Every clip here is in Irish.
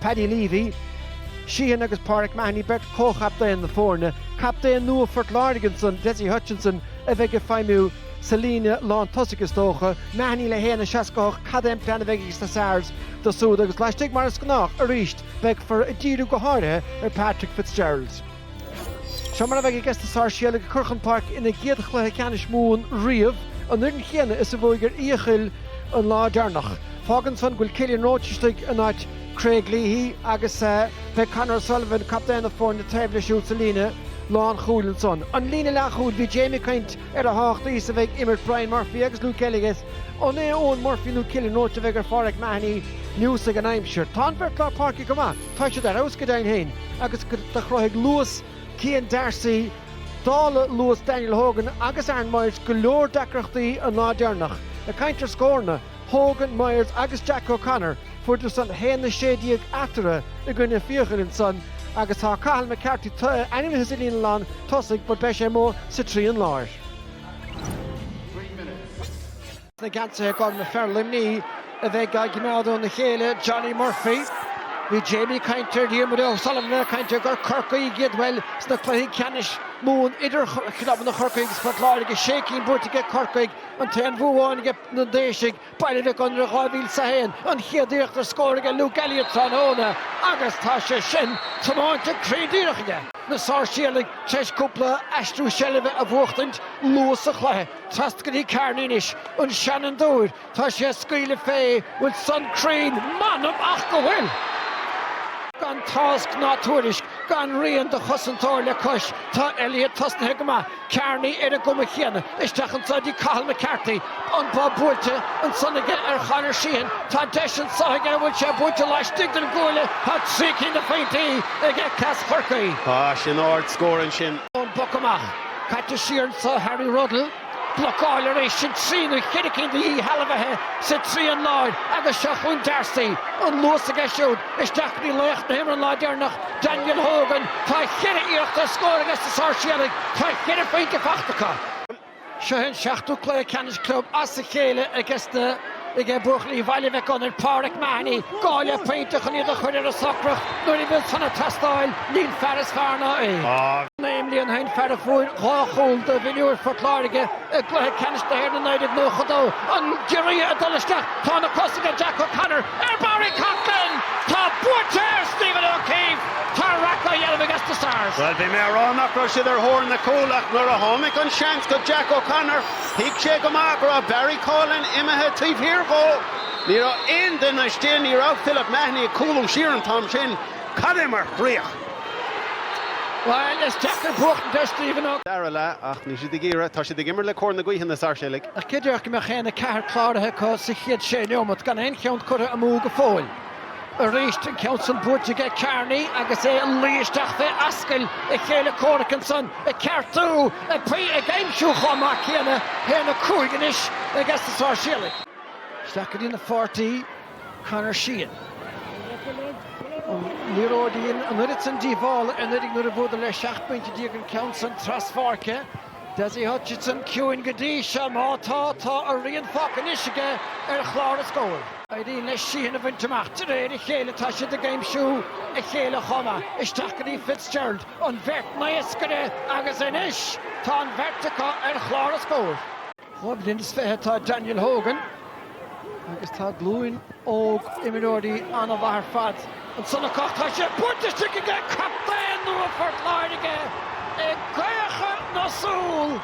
Paddy Leavey, Sheahan agus Pauric Mahony beirt chomhchaptaen na foirne, captaen nua Phort Láirge ansan, Dessie Hutchinson, a bheidh ag feidhmiú sa líne lántosach is dócha, Mahony le haon a seasca hocht cad é an plean a bheidh ages na Sars do súd agus laistigh mar is gnách arís beifear ag díriú go háirithe ar Patrick Fitzgerald. Seo mar a bheidh ages na Sáirséalaigh ag cur chun páirce ina gcéad chluiche ceannais Mumhan riamh, an fhoireann chéanna is a bhuaigh ar Fhiacail an lá deireanach. Fágann san go bhfuil Cillian Roche istigh in áit Craig Leahy agus beidh Conor O'Sullivan, captaen na foirne, taobh leis siúd sa líne lánchúil. Ansan an líne leathchúil, bhí Jamie ag caint ar a thábhachtaí is a bheidh imirt Bryan Murphy agus Luke Elliott agus an é Eoghan Murphy nó Cillian Roche a bheidh ar Phádraig Mahony neosfaidh an aimsir. Tá an bheirt lár páirce go maith. tá siad ar fheabhas go deimhin féin agus do chruthaigh luas Cian D'Arcy, dála luas Daniel Hogan agus Aaron Myers, go leor deacrachtaí an lá deireanach. Ag caint ar scóranna, Hogan, Myers agus Jack O'Connor, fuaireadar san 1-16 eatarthu i gcoinne Fiacail ansan agus tá Cathal McCarthy ainmnithe sa líne lán tosaigh but beidh sé amuigh sa trian láir. na geansaithe gorma fear Luimní a bheidh á gcoimeád óna chéile, Johnny Murphy. Bhí Jamie ag caint ar Dhiarmuid O'Sullivan ag caint ar gur Corcaígh iad, bhuel, sna cluichí ceannais Mumhan idir chlubanna Chorcaí agus Phort Láirge, sé cinn buaite ag Corcaigh, an t-aon bhua amháin ag na Déisigh, Baile Mhic Gonair 2001 an chéad iarracht ar scór ag Luke Elliott tráthnóna agus tá sé sin tiomáinte cruinn díreach aige. Na Sáirséalaigh tar éis cúpla aistriú seilbhe a bhuachtaint luath sa chluiche. Trasna go dtí Kearney anois an seanfhondúir, tá sé ag scaoileadh fé an bhfuil san cruinn, m'anam ach go bhfuil! Gan tásc ná tuairisc, gan rian de chosantóir le cois, tá Elliott tosnaithe go maith, Kearney ar an gcuma chéanna. Isteach anso dtí Cathal McCarthy, an bob buailte ansan aige ar Chonor Sheahan, tá deis anso aige an bhfuil sé buailte laistigh den gcuaille, tá trí cinn de phointí ag Eccles Chorcaí. Tá sin ardscór ansin. Ón bpoc amach. Caite siar anso Harry Ruddle. Blocáil arís sin trí nó cheithre cinn de dhíshealbhaithe sa trian láir agus seo chun D'Arcy. An luas aige siúd isteach go dtí laoch na himeartha an lá deireanach, Daniel Hogan. Tá cheithre iarracht ar scór ages na Sáirséalaigh. Tá cheithre phointe fachta acu. Seo é an seachtú cluiche ceannais club as a chéile ages na. ag buachaillí Bhaile Mhic Gonair, Pauric Mahony, gá le pointe chun iad a chur ar a socracht nuair a bhfuil san ag teastáil, níl fear is fearr ná é. Naoi mbliana ó shin, fear a fuair dhá chúl do mhionúir Phort Láirge i gcluiche ceannais na hÉireann i 1992, an giorria ag dul isteach, tá na cosa aige, Jack O'Connor, ar Barry Coughlan! Tá buaite ar Stephen O'Keeffe! Tá raic á dhéanamh ages na Sars! Bhuel, bhí mé ag rá nach raibh siad ar thóir na cúl ach nuair a tháinig an seans go Jack O'Connor, Thuig sé go maith go raibh Barry Coughlan imithe taobh thiar dhó. Ní raibh aon duine istigh, ní raibh Philip Mahony ag cúlú siar an t-am sin. Cad é mar chríoch! Bhuel, is deacair buachtaint ar Stephen O'Keeffe. dara leath, ach níl siad ag iarraidh. Tá siad ag imirt le cóir na gaoithe, na Sáirséalaigh. Ach cé a déarfadh go mbeadh aon 4 cláraithe acu sa chéad 6 neomat gan aon cheann curtha amú go fóill? Aríst an ceann san buailte aige Kearney agus é a luí isteach fé ascaill a chéile comhraic ansan, ag ceartú, ag paí, ag aimsiú chomh maith céanna haon a cúig anois aiges na Sáirséalaigh. Isteach go dtína pháirtí Conor Sheahan, an liathróid a dhein an oiread san díobhála anuraidh nuair a bhuadar le seacht bpointe déag an ceann san traspháirce. Dessie Hutchinson ciúin go dtí seo. Má tá, tá a rian fágtha anois aige ar chlár an scóir. Éiríonn leis Sheahan a bhaint amach. De réir a chéile tá siad ag aimsiú a chéile chomh maith. Isteach go dtí Fitzgerald, an bheirt naoscaire, agus anois tá an bheirt acu ar chlár an scóir. Dhá bhliain is fiche atá Daniel Hogan agus tá glúin óg imreoirí an-mhaith ar fad ansan acu. Tá sé buailte istigh ag captaen nua Phort Láirge i gcaochadh na súl.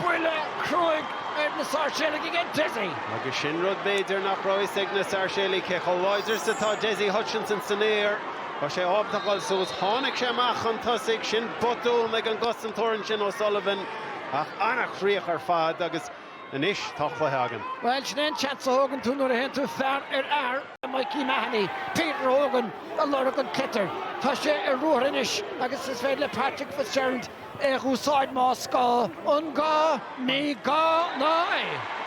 Buille cruaidh ar na Sáirséalaigh aige Dessie. Agus sin rud b'fhéidir nach raibh fhios ag na Sáirséalaigh, cé chomh láidir is atá Dessie Hutchinson san aer. Tá sé ábalta a ghabháil suas. Tháinig sé amach chun tosaigh, sin botún ag an gcosantóir ansin O'Sullivan. Ach an-chríoch ar fad agus anois tá cluiche againn. Bhuel, sin é an seans a thógann tú nuair a théann tú fear ar fhear le Mikey Mahony, Peter Hogan a lorg an tsliotair. Tá sé ar ruathar anois agus is féidir le Patrick Fitzgerald é a dh'úsáid más gá. An gá? Ní gá ná é!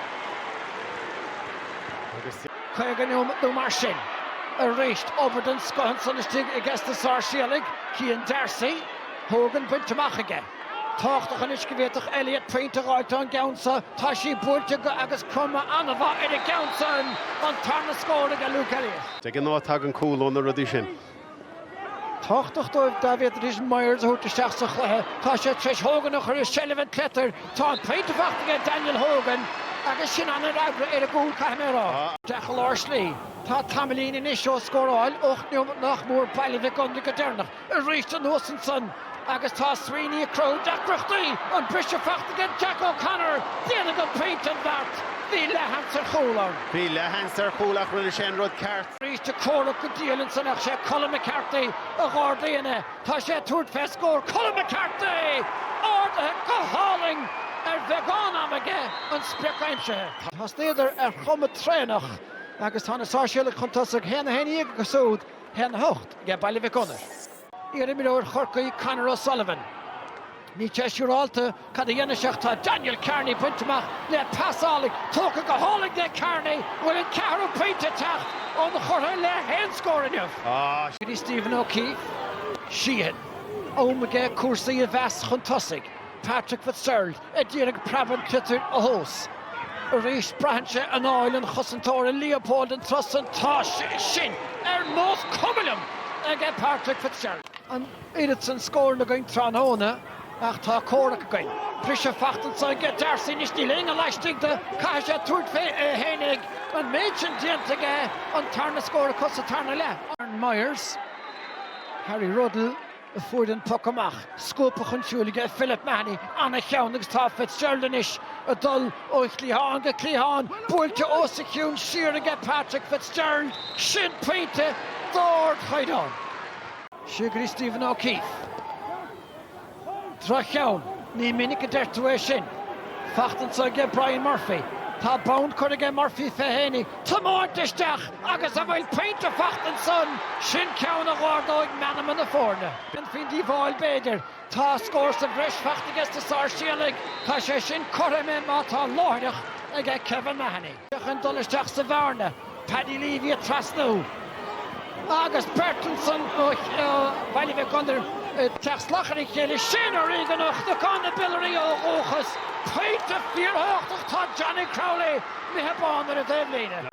50 nó mar sin. Arís, obair den scoth ansan istigh aiges na Sáirséalaigh, Cian Darcy. Hogan bainte amach aige. tábhachtach anois go bhféadfadh Elliott pointe a dh'fháilt ón gceann seo, tá sé buailte aige agus cuma an-mhaith ar an gceann seo an tarna scór aige Luke Elliott. De ghnáth tagann cúl ó na rudaí sin. tábhachtach dóibh dá bhféadfaidís Myers a thabhairt isteach sa chluiche. Tá sé tar éis Hogan a chur i seilbh an tsliotair, tá an pointe faighte aige Daniel Hogan agus sin an-fhreagra ar an gcúl caithfidh mé a rá. Isteach i lár slí. Tá tamaillín anois ó scóráil ocht neomat nach mór Baile Mhic Gonair go deireanach. arís anuas ansan agus tá Sweeney ag cruthú deacrachtaí an briseadh faighte ag Jack O'Connor. Déanfaidh an pointe an beart. Bhí leathsheans ar chúl ann. Bhí leathsheans ar chúl ach rinne sé an rud ceart. arís ag comhrac go diail ansan ach sé Colm McCarthy a dh'ardaíonn é. Tá sé ag tabhairt fé scór. Colm McCarthy! Ardaithe go hálainn ar bheagán ama aige, an sprioc aimsithe. Thosnaíodar ar chuma traenach agus tá na Sáirséalaigh chun tosaigh, haon a haon déag acu siúd, haon a hocht aige Baile Mhic Gonair. Iarimreoir Chorcaí, Conor O'Sullivan. Níl sé siúrálta cad a dhéanfaidh sé ach tá Daniel Kearney bainte amach le pas álainn, tógtha go hálainn aige Kearney, an bhfuil an ceathrú pointe ag teacht inchurtha le haon scór inniu. Go dtí Stephen O'Keefe. Sheehan. Am aige cúrsaí a mheas chun tosaigh. Patrick Fitzgerald. a d'iarraidh preab an tsliotair a thomhas. Arís braitheann sé anáil an chosantóra Leopold an turas san tá sin ar nós cuma liom aige Patrick Fitzgerald. An oiread san scóranna againn tráthnóna ach tá comhrac againn. Briseadh fachta anso aige Darcy anois níl éinne laistigh de, caithfidh sé tabhairt fé é fhéinig an méid sin déanta aige an tarna scór acu sa tarna leath. Aaron Myers, Harry Ruddle. a fuair an poc amach, scuabtha chun siúil aige Philip Mahony, an-cheann agus tá Fitzgerald anois ag dul ó chliathán go cliathán, buailte os a chionn siar aige Patrick Fitzgerald, sin pointe d'ardchaighdeán. Seo go dtí Stephen O'Keefe. Droch-cheann, ní minic a deir tú é sin. Fachta anso aige Brian Murphy. Tá bonn curtha aige Murphy fé fhéinig tiomáint isteach agus an bhfuil pointe fachta ansan, sin ceann a dh'ardóidh meanma na foirne. Ní haon díobháil b'fhéidir? Tá scór sa bhreis fachta aige sna Sáirséalaigh, tá sé sin cothrom é má tá láithreach aige Kevin Mahony. Chun dul isteach sa bhearna, Paddy Leavey ag trasnú agus beirt ansan ó Bhaile Mhic Gonair ag teacht salach ar a chéile, Shane O'Regan ó Chnocán na Biolraí ó dhúchas, pointe fíorthábhachtach, tá Johnny Crowley, imithe bán ar an dtaobhlíne.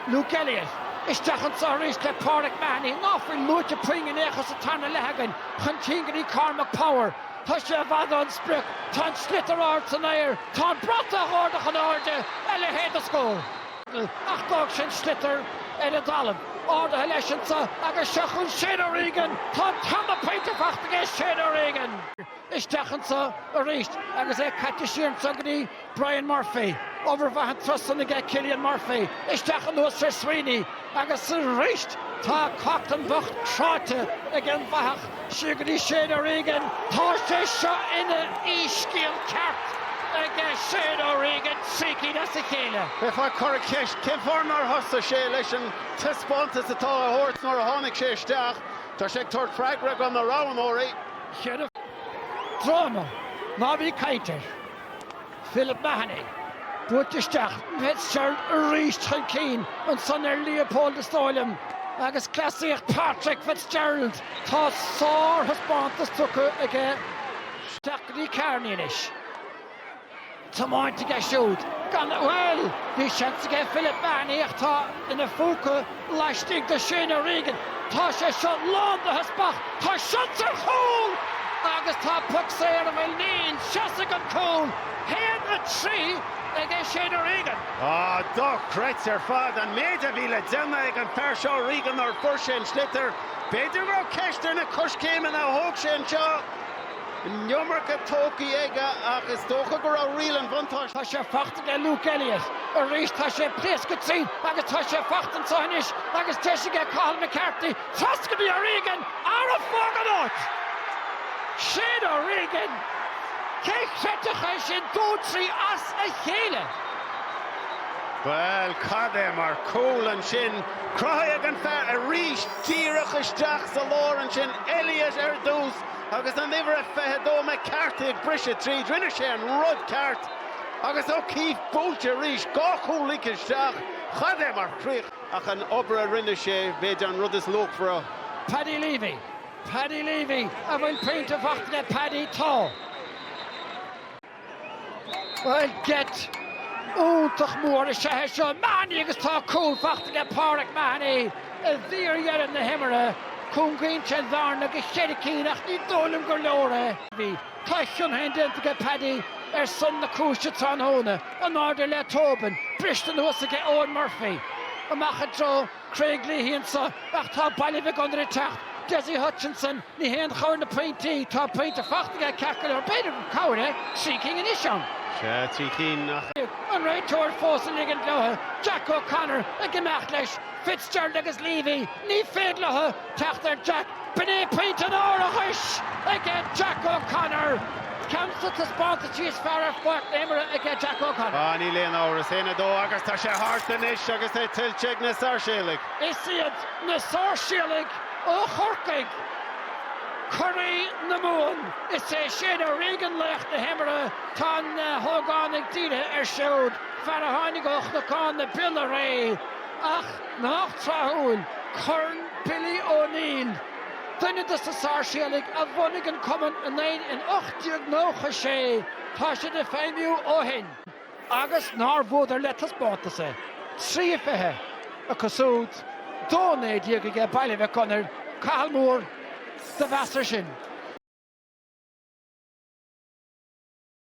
Luke Elliot, isteach anso aríst le Pauric Mahony, ná fuil luaite puinn in aon chor sa tarna leath againn chun cinn go dtí Cormac Power. Tá sé i bhfad ón sprioc, tá an sliotar ard san aer, tá an bratach á ardach in airde, a leithéid de scór! Ach d'fhág sé an sliotar ar an dtalamh, ardaithe leis anso, agus seo chun Shane O'Regan, tá an tarna pointe fachta aige Shane O'Regan! isteach anso arís agus é caite siar anso go dtí Brian Murphy, obair mhaith an turas san aige Cillian Murphy, isteach anuas ar Sweeney agus arís tá Coughlan bocht cráite ag an bhfathach seo go dtí Shane O'Regan. Tá sé seo ina shíscéal ceart aige Shane O'Regan trí cinn as a chéile. Bheifeá ag cur an cheist cén fáth nár thosaigh sé leis an taispeántas atá á thabhairt nuair a tháinig sé isteach. Tá sé ag tabhairt freagra do na roghnóirí. Seo dráma ná bí ag caint air, Philip Mahony, buailte isteach chun Fitzgerald arís chun cinn ansan ar Leopold is dóigh liom, agus cleasaíocht Patrick Fitzgerald, tá sárthaispeántas tugtha aige isteach go dtí Kearney anois. tiomáint aige siúd gan mhoill. Bhí seans aige Philip Mahony ach tá ina phúca laistigh de Shane O'Regan. Tá sé seo lán de theaspach, tá seans ar chúl agus tá poc saor an bhfuil? Níl. Seasfaidh an cúl. 1, 3 aige Shane O'Regan. Dochreidte ar fad an méid a bhí le déanamh ag an fear seo O'Regan nuair a fuair sé an sliotar. B'fhéidir go raibh ceist ar na coiscéimeanna a thóg sé anseo. An iomarca tógtha aige ach is dócha go raibh riail an bhuntáiste. Tá sé faighte aige Luke Elliott arís, tá sé pléasctha tríd agus tá sé faighte anseo anois agus deis aige Cathal McCarthy trasna go dtí O'Regan. Arra fág an áit! Shane O'Regan! Cé chreidfeadh é sin dó trí as a chéile? Bhuel cad é mar chúl ansin. Cruthaithe ag an bhfear arís díreach isteach sa lár ansin, Elliott ar dtús Agus an uimhir a 22 McCarthy ag briseadh tríd, rinne sé an rud ceart agus O'Keeffe buailte arís, dhá chúl ligthe isteach. Cad é mar chríoch! Ach an obair a rinne sé, b'fhéidir an rud is luachmhaire. Paddy Leavey, Paddy Leavey an bhfuil pointe faighte aige Paddy? Tá. Bhuel, geit iontach mór is ea é seo. Mahony agus tá cúl faighte aige, Pauric Mahony, i bhfíordheireadh na himeartha. Cúngaíonn sé an bhearna go ceithre cinn ach ní dóigh liom gur leor é. Bhí, tá a chion féin déanta aige, Paddy, ar son na cúise tráthnóna, in airde le Tobin, briste anuas aige, Eoghan Murphy, amach i dtreo. Craig Leahy anseo ach tá Baile Mhic Gonair ag teacht. Dessie Hutchinson, Ní haon chabhair na pointí, tá pointe faighte aige ceart go leor, b'fhéidir gur cabhair é trí cinn anois ann. Sea, trí cinn ach. an réiteoir fós ag ligint leothu, Jack O'Connor ag imeacht leis, Fitzgerald agus Leavey, ní féidir leothu Teacht ar Jack, b'in é pointe an árachais aige Jack O'Connor! Ceann des na taispeántaisí is fearr ar pháirc na himeartha aige Jack O'Connor. Á, níl aon amhras, a haon a dó agus tá sé thart anois agus é tuillte ag na Sáirséalaigh. Is iad na Sáirséalaigh ó Chorcaigh curaidh na Mumhan, is é Shane O'Regan laoch na himeartha. Tá na hógánaigh dírithe air siúd, fear a tháinig ó Chnocán na Biolraí, ach, Nach tráthúil, Corn Billy O'Neill, duine des na Sáirséalaigh a bhunaigh an cumann i nDoire in 1896, tá siad ag feidhmiú ó shin. Agus nár bhuadar le taispeántas é. Trí a fiche acu súd, dó a naoi déag aige Baile Mhic Gonair, Cathal Moore, do mheas air sin.